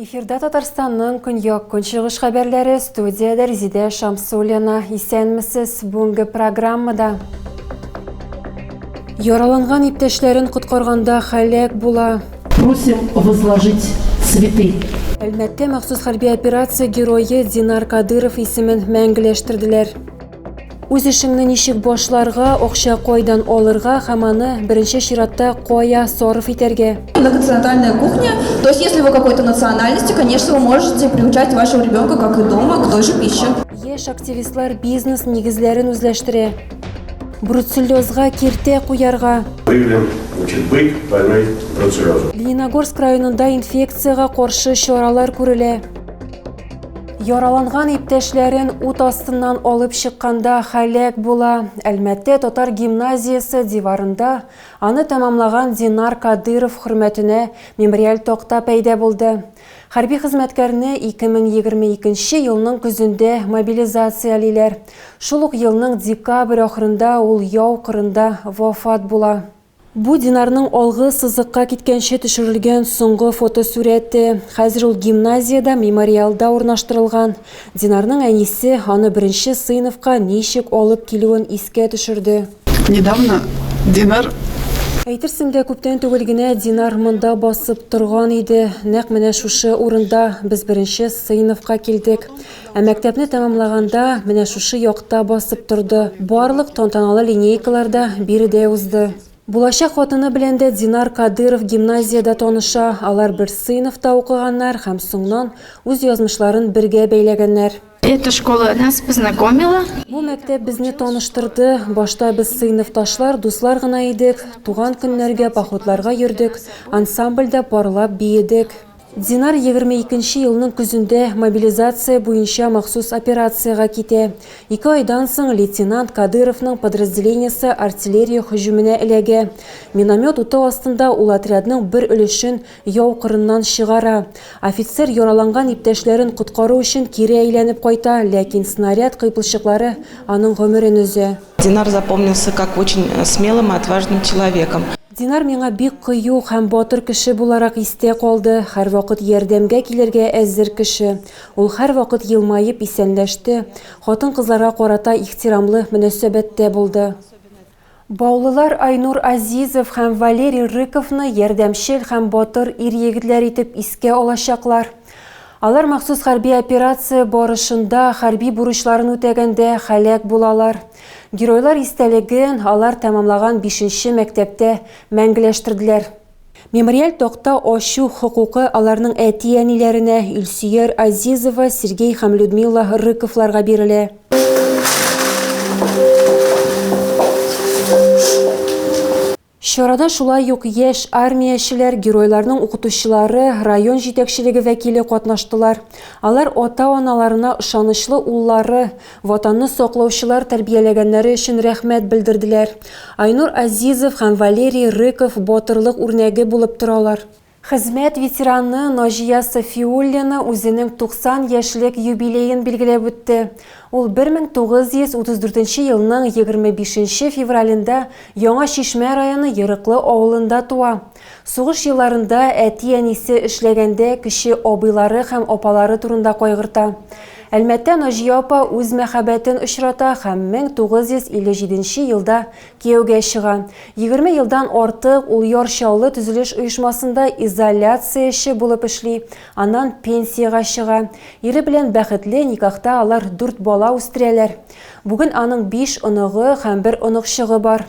Эфирда Татарстанның көньяк көнчыгыш хәбәрләре студияда Резидә Шамсулина. Исәнмесез бүгенге программада. Яраланган иптәшләрен коткарганда халәк була. Просим возложить цветы. Әлмәттә махсус хәрби операция герое Динар Кадыров исемен мәңгеләштерделәр. Үз эшеңне ничек башларга, акча кайдан алырга һәм аны беренче чиратта кая сарыф итәргә? На континентальная кухня. То есть, если вы какой-то национальности, конечно, вы можете приучать вашего ребенка, как и дома, к той же пище. Яшь активистлар бизнес нигезләрен үзләштерә. Бруцеллезга киртә куярга. Выявлен очень бык больной бруцеллезом. Лениногорск районында инфекциягә каршы чаралар күрелә. Яраланган иптәшләрен ут астыннан алып чыкканда халәк була. Әлмәттә татар гимназиясе диварында аны тәмамлаган Динар Кадыров хөрмәтенә мемориаль такта пәйдә булды. Хәрби хезмәткәрне 2022 нче елның көзендә мобилизациялиләр. Шул ук елның декабрь ахырында ул яу кырында вафат була. Бу Динарның алгы сызыкка киткәнче төшерелгән соңгы фотосурәте. Хәзер ул гимназиядә, мемориалда урнаштырылган. Динарның әнисе аны беренче сыйныфка ничек алып килүен искә төшерде. Недавно Динар Әйтерсең лә күптән түгел генә Динар монда басып торган иде. Нәкъ менә шушы урында без беренче сыйныфка килдек. Ә мәктәпне тәмамлаганда менә шушы якта басып торды. Барлык тантаналы линейкалар да биредә узды. Булачак хатыны белән дә Динар Кадыров гимназиядә таныша, алар бер сыйныфта укыганнар һәм соңнан үз язмышларын бергә бәйләгәннәр. Эта школа нас познакомила. Бу мәктәп безне таныштырды. Башта без сыйныфташлар, дуслар гына идек. Туган көннәргә, походларга йөрдек, ансамбльдә парлап биедек. Динар 22 нче елның көзендә мобилизация буенча махсус операциягә китә. Ике айдан соң лейтенант Кадыровның подразделениесе артиллерия һөҗүменә эләгә. Миномет уты астында ул отрядның бер өлешен Яу кырыннан чыгара. Офицер яраланган иптәшләрен коткару өчен кире әйләнеп кайта, ләкин снаряд кыйпылчыклары аның гомерен өзә. Динар запомнился как очень смелым и отважным человеком. Динар миңа бик кыю һәм батыр кеше буларак истә калды, һәрвакыт ярдәмгә килергә әзер кеше. Ул һәрвакыт елмаеп исәнләште, хатын-кызларга карата ихтирамлы мөнәсәбәттә булды. Баулылар Айнур Азизов һәм Валерий Рыковны ярдәмчел һәм батыр ир-егетләр итеп искә алачаклар. Алар махсус хәрби операция барышында хәрби бурычларын үтәгәндә һәлак булалар. Геройлар истәлеген алар тәмамлаган бишенче мәктәптә мәңгеләштерделәр. Мемориаль такта ачу хокукы аларның әти-әниләренә, Илсөяр Азизова, Сергей һәм Людмила Рыковларга бирелә. Чарада шулай ук яшь армиячеләр, геройларның укытучылары, район җитәкчелеге вәкиле катнаштылар. Алар ата-аналарына ышанычлы уллары, Ватанны саклаучылар тәрбияләгәннәре өчен рәхмәт белдерделәр. Айнур Азизов һәм Валерий Рыков батырлык үрнәге булып торалар. Хезмәт ветераны Наҗия Сафиуллина үзенең 90 яшьлек юбилеен билгеләп үтте. Ул 1934 елның 25 февралендә Яңа Чишмә районы Ерыклы авылында туа. Сугыш елларында әти-әнисе эшләгәндә кече абыйлары һәм апалары турында кайгырта. Әлмәттә Наҗия апа үз мәхәббәтен очрата һәм 1957 елда кияүгә чыга. 20 елдан артык ул Яр Чаллы төзелеш оешмасында изоляцияче булып эшли, аннан пенсиягә чыга. Ире белән бәхетле никахта алар дүрт бала үстерәләр. Бүген аның биш оныгы һәм бер оныкчыгы бар.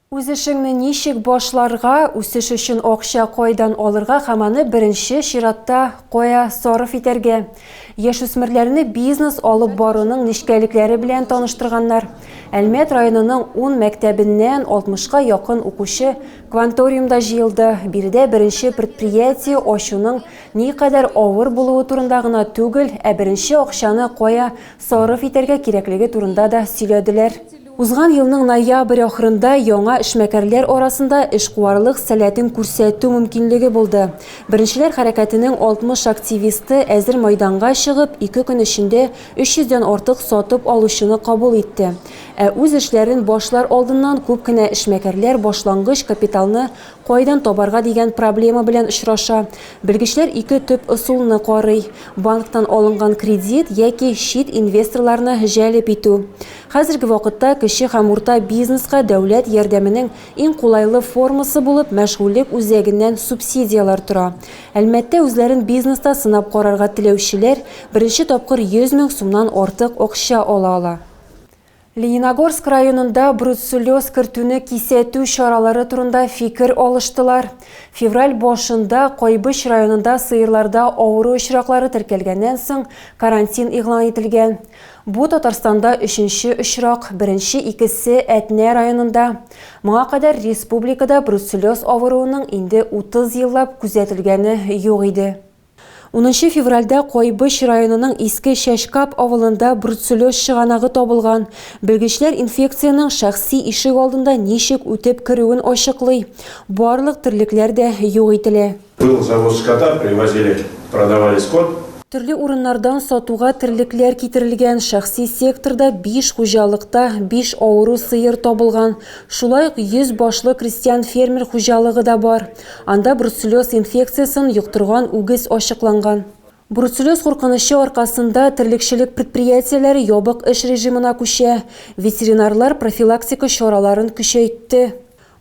Үз эшеңне ничек башларга, үсеш өчен акча кайдан алырга һәм аны беренче чиратта кая сарыф итәргә? Яшүсмерләрне бизнес алып баруның нечкәлекләре белән таныштырганнар. Әлмәт районының ун мәктәбеннән алтмышка якын укучы кванториумда җыелды. Биредә беренче предприятие ачуның никадәр авыр булуы турында гына түгел, ә беренче акчаны кая сарыф итәргә кирәклеге турында да сөйләделәр. Узган елның ноябрь ахырында яңа эшмәкәрләр арасында эшкуарлык сәләтен күрсәтү мөмкинлеге булды. Беренчеләр хәрәкәтенең 60 активисты әзер майданга чыгып, ике көн эчендә 300 дән артык сатып алучыны кабул итте. Ә үз эшләрен башлар алдыннан күп кенә эшмәкәрләр башлангыч капиталны Кайдан табарга дигән проблема белән очраша. Белгечләр ике төп ысулны карый, банктан алынган кредит яки чит инвесторларны җәлеп итү. Хәзерге вакытта кече һәм урта бизнеска дәүләт ярдәменең иң кулайлы формасы булып мәшгульлек үзәгеннән субсидияләр тора. Әлмәттә үзләрен бизнеста сынап карарга теләүчеләр беренче тапкыр 100 мең сумнан артык акча ала ала. Лениногорск районында бруцеллез кертүне кисәтү чаралары турында фикер алыштылар. Февраль башында Кайбыч районында сыерларда авыру очраклары теркәлгәннән соң карантин игълан ителгән. Бу Татарстанда өченче очрак, беренче икесе Әтнә районында. Моңа кадәр республикада бруцеллез авыруының инде 30 еллап күзәтелгәне юк иде. Унынчы февральдә Кайбыч районының Иске Чәчкап авылында бруцеллез чыганагы табылган. Белгечләр инфекциянең шәхси ишек алдында ничек үтеп керүен ачыклый. Барлык терлекләр дә юк ителә. Был завоз скота привозили, продавали скот. Төрле урыннардан сатуга терлекләр китерелгән, шәхси секторда биш хуҗалыкта биш авыру сыер табылган. Шулай ук йөз башлы крестьян-фермер хуҗалыгы да бар. Анда бруцеллез инфекциясен йоктырган үгез ачыкланган. Бруцеллез куркынычы аркасында терлекчелек предприятиеләре ябык эш режимына күчә, ветеринарлар профилактика чараларын көчәйтте.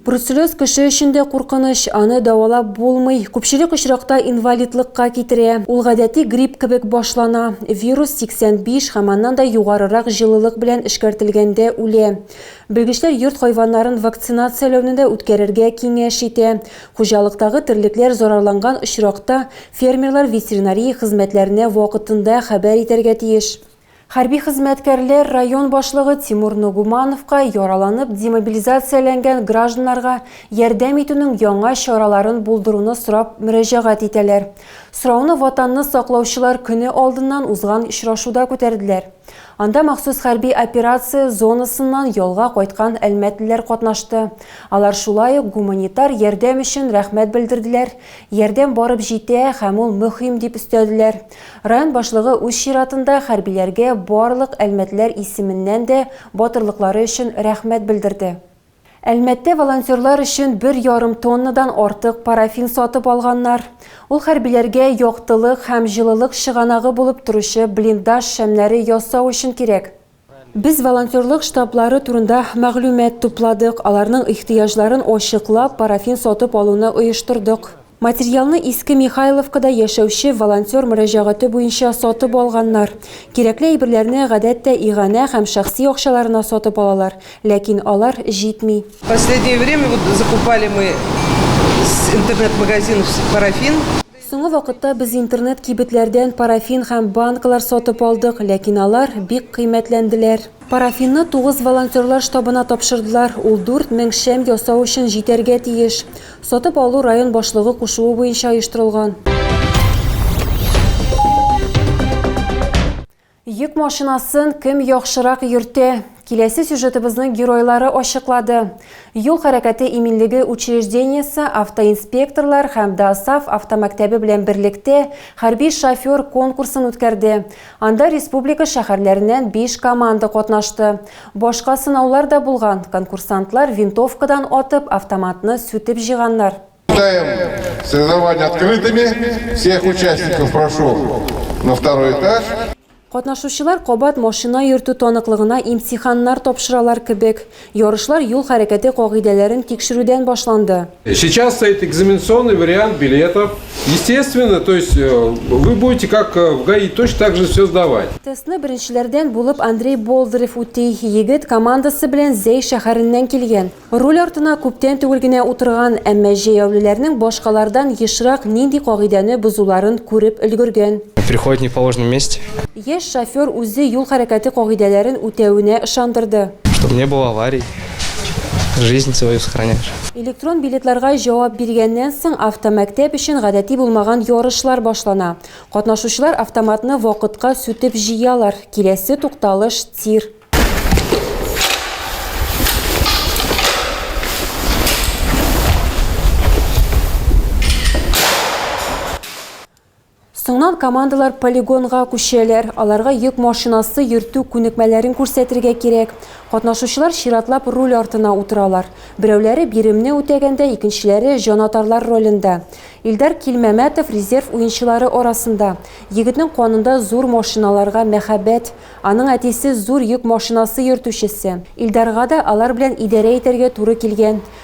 Бруцеллез кеше өчен дә куркыныч, аны дәвалап булмый, күпчелек очракта инвалидлыкка китерә. Ул гадәти грипп кебек башлана, вирус 85 һәм аннан да югарырак җылылык белән эшкәртелгәндә үлә. Белгечләр йорт хайваннарын вакцинацияләүне дә үткәрергә киңәш итә. Хуҗалыктагы терлекләр зарарланган очракта, фермерлар ветеринария хезмәтләренә вакытында хәбәр итәргә тиеш. Хәрби хезмәткәрләр район башлыгы Тимур Ногумановка яраланып демобилизацияләнгән гражданнарга ярдәм итүнең яңа чараларын булдыруны сорап мөрәҗәгать итәләр. Сорауны Ватанны саклаучылар көне алдыннан узган очрашуда күтәрделәр. Анда махсус хәрби операция зонасыннан ялга кайткан әлмәтлеләр катнашты. Алар шулай ук гуманитар ярдәм өчен рәхмәт белдерделәр, ярдәм барып җитә һәм ул мөһим дип өстәделәр. Район башлыгы үз чиратында хәрбиләргә барлык әлмәтлеләр исеменнән дә батырлыклары өчен рәхмәт белдерде. Әлмәттә волонтерлар өчен бер ярым тоннадан артык парафин сатып алганнар. Ул хәрбиләргә яктылык һәм җылылык чыганагы булып торучы блиндаж шәмнәре ясау өчен кирәк. Без волонтерлык штаблары турында мәгълүмат тупладык, аларның ихтыяҗларын ачыклап, парафин сатып алуны оештырдык. Материалны Иске Михайловкада яшәүче волонтер мөрәҗәгате буенча сатып алганнар. Кирәкле әйберләрне, гадәттә, иганә һәм шәхси акчаларына сатып алалар, ләкин алар җитми. Последнее время вот закупали мы с интернет-магазинов парафин. Соңгы вакытта без интернет-кибетләрдән парафин һәм банкалар сатып алдык, ләкин алар бик кыйммәтләнделәр. Парафинны тугыз волонтерлар штабына тапшырдылар, ул дүрт мең шәм ясау өчен җитәргә тиеш. Сатып алу район башлыгы кушуы буенча оештырылган. Йөк машинасын кем яхшырак йөртә? Киләсе сюжетыбызның геройлары ачыклады. Юл хәрәкәте иминлеге учреждениесе автоинспекторлар һәм ДАСАФ автомәктәбе белән берлектә хәрби шофер конкурсын үткәрде. Анда республика шәһәрләреннән биш команда катнашты. Башка сынаулар да булган. Конкурсантлар винтовкадан атып, автоматны сүтеп җыйганнар. Считаем соревнования открытыми. Всех участников прошу на второй этаж. Катнашучылар кабат машина йөртү таныклыгына имтиханнар тапшыралар кебек. Ярышлар юл хәрәкәте кагыйдәләрен тикшерүдән башланды. Сейчас стоит экзаменационный вариант билетов. Естественно, то есть вы будете как в ГАИ точно так же все сдавать. Тестны беренчеләрдән булып Андрей Болдырев үти. Егет командасы белән Зәй шәһәреннән килгән. Руль артына күптән түгел генә утырган, әмма җәяүлеләрнең башкалардан ешрак нинди кагыйдәне бозуларын күреп өлгергән. Приходит не в положенном месте. Яшь шофер үзе юл хәрәкәте кагыйдәләрен үтәвенә ышандырды. Чтоб не было аварий, жизнь свою сохраняешь. Электрон билетларга җавап биргәннән соң автомәктәп өчен гадәти булмаган ярышлар башлана. Катнашучылар автоматны вакытка сүтеп җыялар. Киләсе тукталыш, тир. Соңнан командалар полигонга күчәләр, аларга йөк машинасы йөртү күнекмәләрен күрсәтергә кирәк. Катнашучылар чиратлап руль артына утыралар. Берәүләре биремне үтәгәндә, икенчеләре җанатарлар ролендә. Илдар Килмәмәтов резерв уенчылары арасында. Егетнең канында зур машиналарга мәхәббәт. Аның әтисе зур йөк машинасы йөртүчесе. Илдарга да алар белән идарә итәргә туры килгән.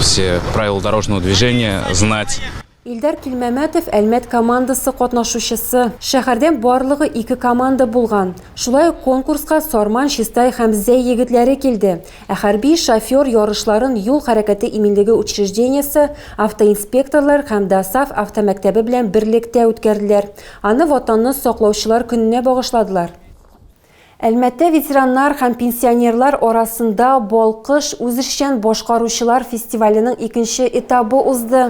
все правила дорожного движения знать. Илдар Килмәмәтов Әлмәт командасы катнашучысы. Шәһәрдән барлыгы ике команда булган. Шулай ук конкурска Сарман, Чистай һәм Зәй егетләре килде. Ә хәрби шофер ярышларын юл хәрәкәте иминлеге учреждениесе, автоинспекторлар һәм ДАСАФ автомәктәбе белән берлектә үткәрделәр. Аны Ватанны саклаучылар көненә багышладылар. Әлмәттә ветераннар һәм пенсионерлар арасында Балкыш үзешчән башкаручылар фестиваленең икенче этабы узды.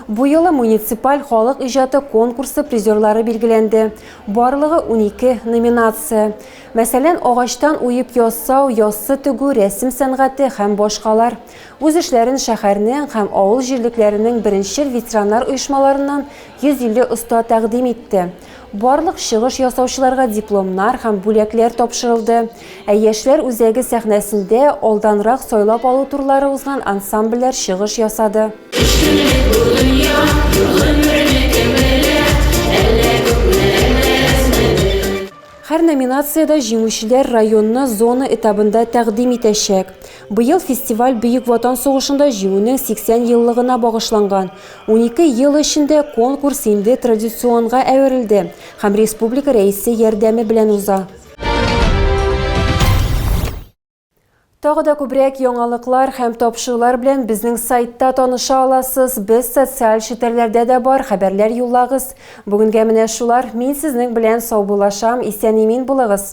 Бу юлы муниципаль халык иҗаты конкурсы призерлары билгеләнде. Барлыгы унике номинация. Мәсәлән, агачтан уеп ясау, яссы тегү, рәсем сәнгате һәм башкалар. Үз эшләрен шәһәрнең һәм авыл җирлекләренең беренчел ветераннар оешмаларыннан 150 оста тәкъдим итте. Барлык чыгыш ясаучыларга дипломнар һәм бүләкләр тапшырылды, ә Яшьләр үзәге сәхнәсендә алданрак сайлап алу турлары узган ансамбльләр чыгыш ясады. Кешелек бу дөнья, гомернеке белә, әллә күпме, әллә әзме бел. Һәр номинациядә җиңүчеләр районны зона этабында тәкъдим итәчәк. Быел фестиваль Бөек Ватан сугышында Җиңүнең 80 еллыгына багышланган. Унике ел эчендә конкурс инде традиционга әверелде һәм республика Рәисе ярдәме белән уза. Тагы да күбрәк яңалыклар һәм тапшырулар белән безнең сайтта таныша аласыз. Без социаль челтәрләрдә дә бар, хәбәрләр юллагыз. Бүгенгә менә шулар. Мин сезнең белән саубуллашам. Исән-имин булыгыз!